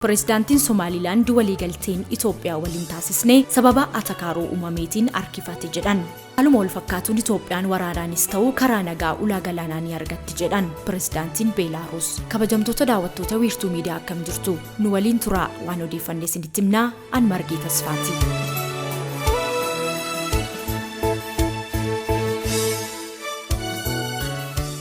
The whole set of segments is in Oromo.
Pireezidaantiin Somaaliilaand waliigalteen Itoophiyaa waliin taasisne sababa atakaaroo uumameetiin harkifate jedhan. Haaluma wal fakkaatuun Itoophiyaan waraanaanis ta'u karaa nagaa ulaa galaanaa ni argatti jedhan pireezidaantiin Beelaaruus. Kabajamtoota daawwattoota wiirtuu miidiyaa akkam jirtu? Nu waliin turaa waan odeeffanne isinitti himnaa An Margee Tasfaati.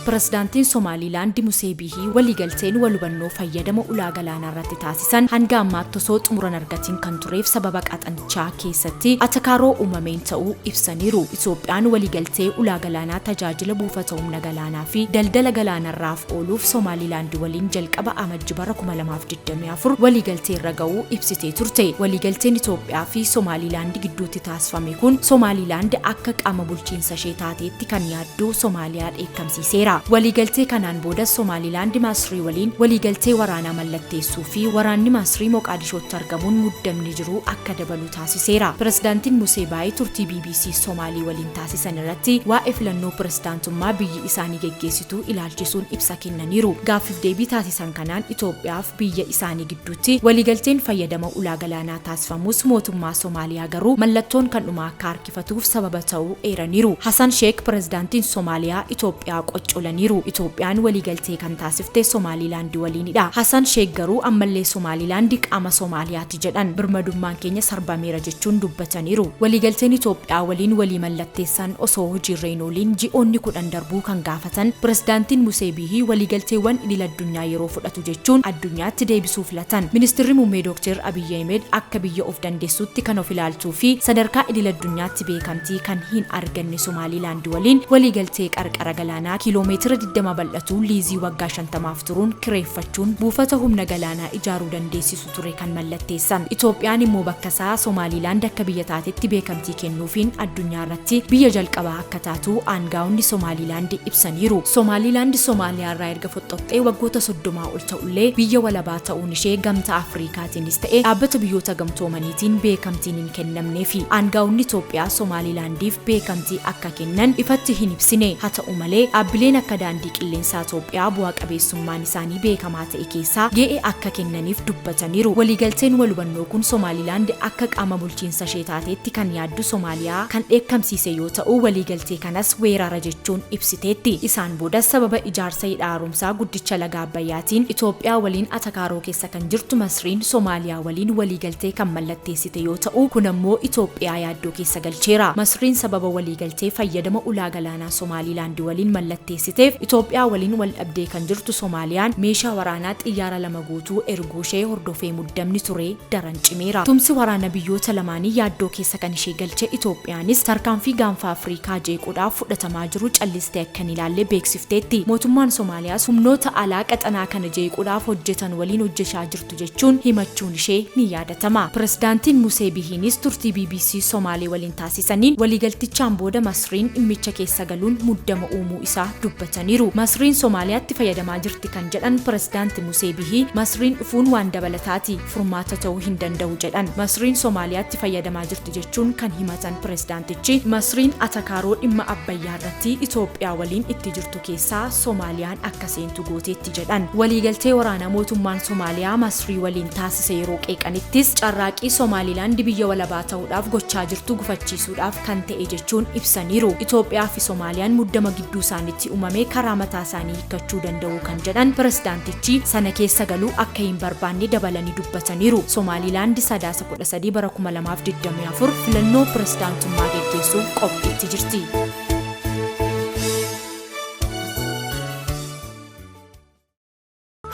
Pirezidaantiin Somaaliilaandi Musee Biihii waliigalteen wal hubannoo fayyadama ulaa galaanaa irratti taasisan hanga ammaatti osoo xumura hin argatiin kan tureef sababa qaxanichaa keessatti atakaaroo uumameen ta'uu ibsaniiru. Itoophiyaan waliigaltee ulaa galaanaa tajaajila buufata humna galaanaa fi daldala galaanarraaf ooluuf Somaaliilaandi waliin jalqaba Amajji bara 2020 24 waliigaltee irra ga'uu ibsitee turte. Waliigalteen Itoophiyaa fi Somaaliilaand gidduutti taasifame kun Somaaliilaand akka qaama bulchiinsa ishee taateetti kan yaadduu Somaaliyaa dheekkamsiiseera. Waliigaltee kanaan booda Somaaliilaand Masrii waliin waliigaltee waraanaa mallatteessuu fi waraanni Masrii Moqaadishootti argamuun muddamni jiru akka dabalu taasiseera. Pirezidaantiin Musee Baayii turtii BBC Somaalii waliin taasisan irratti waa'ee filannoo pirezidaantummaa biyyi isaanii geggeessitu ilaalchisuun ibsa kennaniiru. Gaaffiif deebii taasisan San kanaan Itoophiyaaf biyya isaanii gidduutti waliigalteen fayyadama ulaa galaanaa taasifamus mootummaa Somaaliyaa garuu mallattoon kan dhumaa akka harkifatuuf sababa ta'uu eeraniiru. Hasan Sheek Pirezidaantiin Somaaliyaa Itoophiyaa qoccolaniiru. Itoophiyaan waliigaltee kan taasifte Somaaliilaandi waliinidha. Hasan Sheek garuu ammallee Somaaliilaandi qaama Somaaliyaa ti jedhan. Birmadummaan keenya sarbameera jechuun dubbataniiru. Waliigalteen Itoophiyaa waliin walii mallatteessan osoo hojiirra hin ooliin ji'oonni 10 darbuu kan gaafatan Pirezidaantiin Musee Biihii waliigalteewwan idil addunyaa yeroo fudhatu jechuun addunyaatti deebisuu filatan. Ministirri Muummee Dookteer Abiyyi Ahimed akka biyya of dandeessuutti kan of ilaaltuu fi sadarkaa idil addunyaatti beekamtii kan hin arganne Somaaliilaand waliin waliigaltee qarqara galaanaa kiiloo meetira 20 bal'atu liizii waggaa 50f turuun kireeffachuun buufata humna galaanaa ijaaruu dandeessisu ture kan mallatteessan. Itoophiyaan immoo bakka isaa Somaaliilaand akka biyya taatetti beekamtii kennuufiin addunyaa irratti biyya jalqabaa akka taatu aangaa'onni Somaaliilaand ibsaniiru. Somaaliilaand Somaaliyaa irraa erga foxxoqxee waggoota soddomaa ol ta'ullee biyya walabaa ta'uun ishee gamtaa Afriikaatiinis ta'e dhaabbata biyyoota gamtoomaniitiin beekamtiin hin kennamneefi. Aangaa'onni Itoophiyaa Somaaliilaandiif beekamtii akka kennan ifatti hin ibsine. Haa ta'u malee dhaabbileen akka daandii qilleensaa Itoophiyaa bu'a qabeessummaan isaanii beekamaa ta'e keessaa gee'ee akka kennaniif dubbataniiru. Waliigalteen walhubannoo kun Somaalilaand akka qaama bulchiinsashee taateetti kan yaaddu Somaaliyaa kan dheekkamsiise yoo ta'u, waliigaltee kanas weerara jechuun ibsiteetti. Isaan boodas sababa ijaarsa hidha haaromsaa guddicha laga Abbayyaatiin Itoophiyaa waliin atakaaroo keessa kan jirtu Masriin Somaaliyaa waliin waliigaltee kan mallatteessite yoo ta'u, kun ammoo Itoophiyaa yaaddoo keessa galcheera. Masriin sababa waliigaltee fayyadama ulaa galaanaa waraanaa Somaaliilaandi waliin mallatteessiteef Itoophiyaa waliin wal dhabdee kan jirtu Somaaliyaan meeshaa waraanaa xiyyaara lama guutuu erguushee hordofee muddamni ture daran cimeera. Tumsi waraana biyyoota lamaanii yaaddoo keessa kan ishee galche Itoophiyaanis tarkaanfii gaanfa Afriikaa jeequudhaaf fudhatamaa jiru callistee akka hin ilaalle beeksifteetti. Mootummaan Somaaliyaas humnoota alaa qaxanaa kana jeequudhaaf hojjetan waliin hojjechaa jirti. jirtu jechuun himachuun ishee ni yaadatama. Pirezidaantiin Musee Bihiiniis turtii bbc Somaalee waliin taasisaniin waliigaltichaan booda Masriin dhimmicha keessa galuun muddama uumuu isaa dubbataniiru. Masriin Somaaliyaatti fayyadamaa jirti kan jedhan Pirezidaanti Musee Bihii, Masriin dhufuun waan dabalataati, furmaata ta'uu hin danda'u jedhan. Masriin Somaaliyaatti fayyadamaa jirti jechuun kan himatan pirezidaantichi, Masriin atakaaroo dhimma Abbayyaa irratti Itoophiyaa waliin itti jirtu keessaa Somaaliyaan akka seentu gooteetti jedhan. Waliigaltee waraanaa mootummaan Somaaliyaa Masrii waliin taasise yeroo qeeqanittis carraaqqii Somaaliilaand biyya walabaa ta'uudhaaf gochaa jirtu gufachiisuudhaaf kan ta'e jechuun ibsaniiru. Itoophiyaa fi Somaaliyaan muddama gidduu isaanitti uumame karaa mataa isaanii hiikkachuu danda'u kan jedhan pirezidaantichi sana keessa galuu akka hin barbaanne dabalanii dubbataniiru. Somaaliilaand Sadaasa 13 bara 2024 filannoo pirezidaantummaa geggeessuuf qophiitti jirti.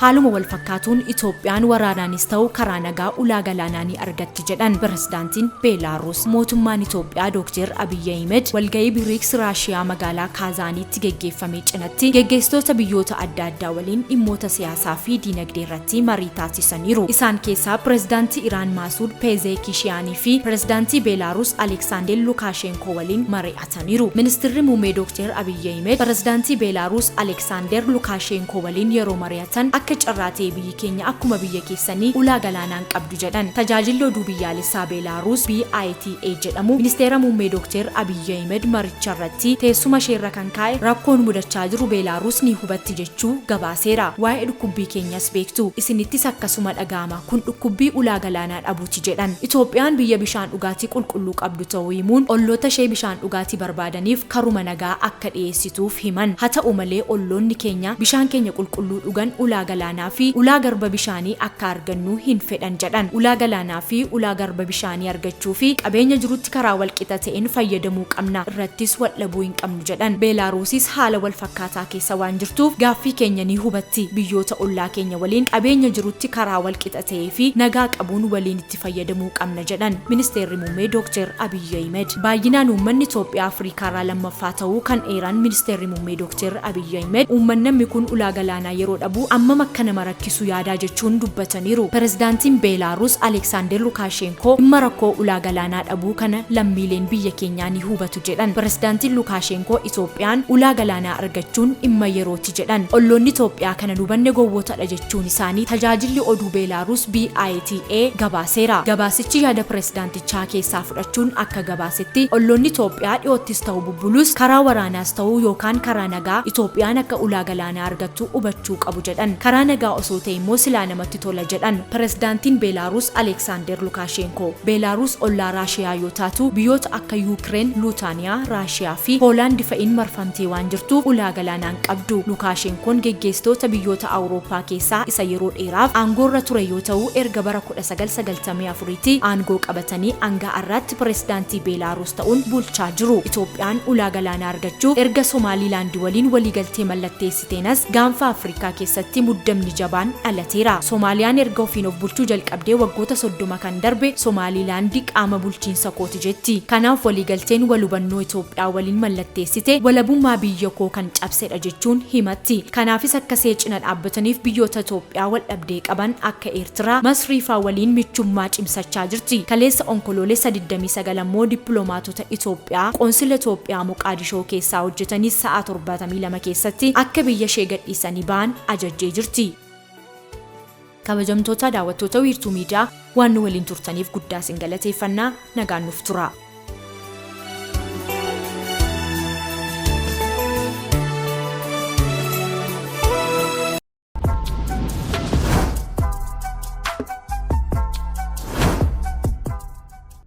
Haaluma wal fakkaatuun Itoophiyaan waraanaanis ta'u karaa nagaa ulaa galaanaa ni argatti jedhan pirezidaantiin Beelaaruus. Mootummaan Itoophiyaa Dooktar Abiyyi Ahimad walgahii Biriiks Raashiyaa magaalaa Kaazaaniitti geggeeffame cinatti geggeessitoota biyyoota adda addaa waliin dhimmoota siyaasaa fi diinagdee irratti marii taasisaniiru. Isaan keessaa pirezidaantii Iraan Maasuud Peezeekishiyaanii fi pirezidaantii Beelaaruus Aleksaandeel Lukaasheenkoo ko waliin mari'ataniiru. Ministirri Muummee Dookteer Abiy Ahimed Pirezidaantii Beelaaruus Aleeksaandeer Lukaasheenkoo waliin yeroo mari'atan akka carraa ta'e biyyi keenya akkuma biyya keessanii ulaa galaanaa hin qabdu jedhan. Tajaajilli Oduu Biyyaalessaa Beelaaruus BITA jedhamu Ministeera Muummee Dookteer Abiy Ahimed maricharratti teessuma isheerra kan kaa'e rakkoon mudachaa jiru Beelaaruus ni hubatti jechuu gabaaseera. Waa'ee dhukkubbii keenyas beektu. Isinittis akkasuma dhaga'ama. Kun dhukkubbii ulaa galaanaa dhabuuti jedhan. Itoophiyaan biyya bishaan dhugaatii qulqulluu qabdu ta'uu himuun, ollootashee bishaan dhugaatii barbaadaniif karuma nagaa akka dhiyeessituuf himan. Haa ta'u malee olloonni keenya bishaan keenya qulqulluu dhugan ulaa galaanaafi ulaa garba bishaanii akka argannu hin fedhan jedhan. Ulaa galaanaafi ulaa garba bishaanii argachuufi qabeenya jirutti karaa walqixa ta'een fayyadamuu qabna, irrattis waldhabuu hin qabnu jedhan. Beelaaruusis haala walfakkaataa keessa waan jirtuuf gaaffii keenya ni hubatti. Biyyoota ollaa keenya waliin qabeenya jirutti karaa walqixa ta'ee fi nagaa qabuun waliin itti fayyadamuu qabna jedhan Ministeerri Muummee Dookteer Abiyyi Ahimed. Baayyinaan uummanni Itoophiyaa Afriikaarraa lammaffaa ta'uu kan eeran Ministeerri Muummee Dookteer Abiyyi Ahimed, uummannammi kun ulaa galaanaa yeroo dhabu ammam akka nama rakkisu yaadaa jechuun dubbataniiru. Pirezidaantiin Beelaaruus Aleeksaandeer Lukaasheenkoo dhimma rakkoo ulaa galaanaa dhabuu kana lammiileen biyya keenyaa ni hubatu jedhan. Pirezidaantiin Lukaasheenkoo Itoophiyaan ulaa galaanaa argachuun dhimma yeroo ti jedhan. Olloonni Itoophiyaa kana hin hubanne gowwootadha jechuun isaanii tajaajilli oduu Beelaaruus BITA gabaaseera. Gabaasichi yaada pirezidaantichaa keessaa fudhachuun akka gabaasetti, olloonni Itoophiyaa dhiyoottis ta'u bubbuluus, karaa waraanaas ta'u yookaan karaa nagaa Itoophiyaan akka ulaa galaanaa argattu hubachuu qabu jedhan. Karaa nagaa osoo ta'e immoo silaa namatti tola jedhan. Pirezidaantiin Beelaaruus Aleeksaandeer Lukaasheenkoo. Beelaaruus ollaa Raashiyaa yoo taatu, biyyoota akka Yuukireen, Luutaaniyaa, Raashiyaa fi Poolaandi fa'iin marfamtee jirti. Hidhamtee waan jirtuuf ulaa galaanaa hin qabdu. Lukaashenkoon geggeessitoota biyyoota Awurooppaa keessaa isa yeroo dheeraaf aangoorra ture yoo ta'u, erga bara 1994tti aangoo qabatanii hanga har'aatti pirezidaantii Beelaaruus ta'uun bulchaa jiru. Itoophiyaan ulaa galaanaa argachuuf erga Somaaliilaandi waliin waliigaltee mallatteessitee Seenas gaanfa Afrikaa keessatti muddamni jabaan dhalateera. Somaaliyaan erga ofiin of bulchuu jalqabdee waggoota 30 kan darbe Somaaliilaandi qaama bulchiinsa kooti jetti. Kanaaf waliigalteen wal hubannoo Itoophiyaa waliin mallatteessite walabummaa biyya koo kan cabsedha jechuun himatti. Kanaafis akka see cina dhaabbataniif biyyoota Itoophiyaa wal dhabdee qaban akka Eertiraa, Masriifaa waliin michummaa cimsachaa jirti. Kaleessa Onkoloolessa 29 ammoo dippiloomaatota Imbaasota Itoophiyaa Qoonsila Itoophiyaa Moqaadishoo keessaa hojjetanis sa'aa 72 keessatti akka biyya ishee gadhiisanii bahan ajajjee jirti. Kabajamtoota daawwattoota Wiirtuu Miidiyaa waan nu waliin turtaniif guddaa isin galateeffanna. Nagaan nuuf turaa.